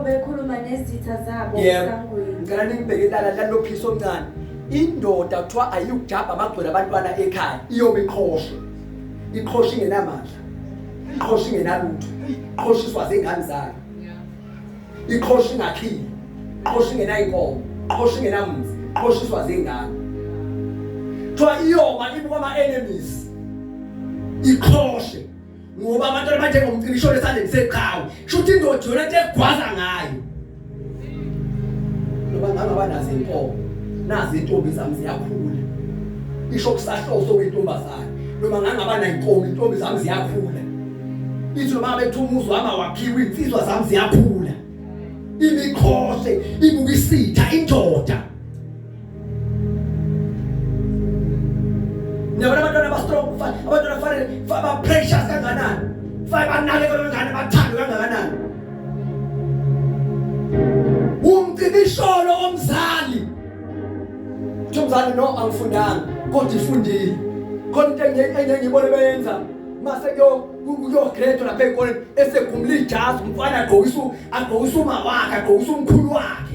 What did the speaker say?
bekhuluma nezitha zabo esangweni ngicela ningibheke ilala lalophisa omncane indoda kuthiwa ayiyukujabha amagcwele abantwana ekhaya iyobe iqhoshe iqhoshe ingenamandla iqhoshe ingenalutho iqhoshiswa zingane zayo iqhoshe ingakhile iqhoshe ingenayinkomo iqhoshe ingenamuzi iqhoshiswa zingane kuthiwa iyoba ibuka ama-enemies iqhoshe ngoba abantu abanjengomcimbi ishona esandleni seqhawe kusho ukuthi indoda yona into egwaza ngayo ngoba ngangaba nazo inkomo nazi intombi zami ziyakhula isho kusahloso wentombazane noma ngangaba nayinkomo intombi zami ziyakhula ithi noma bethu umuzi wami awakhiwe insizwa zami ziyakhula imikhoshe ibukisitha indoda Niyabona abantwana aba strong mfana, abantwana kufanele ba precious kanganani. Kufanele banake kanganani, bathandwe kanganani. Umcibisholo omzali. Uthi umzali no angifundanga, kodwa ifundile. Khona into engiyenye ngibone beyenza mase kuyo kuyo grade lapha ekoleni esegumula ijazi umfana agqokisa agqokisa uma wakhe agqokisa umkhulu wakhe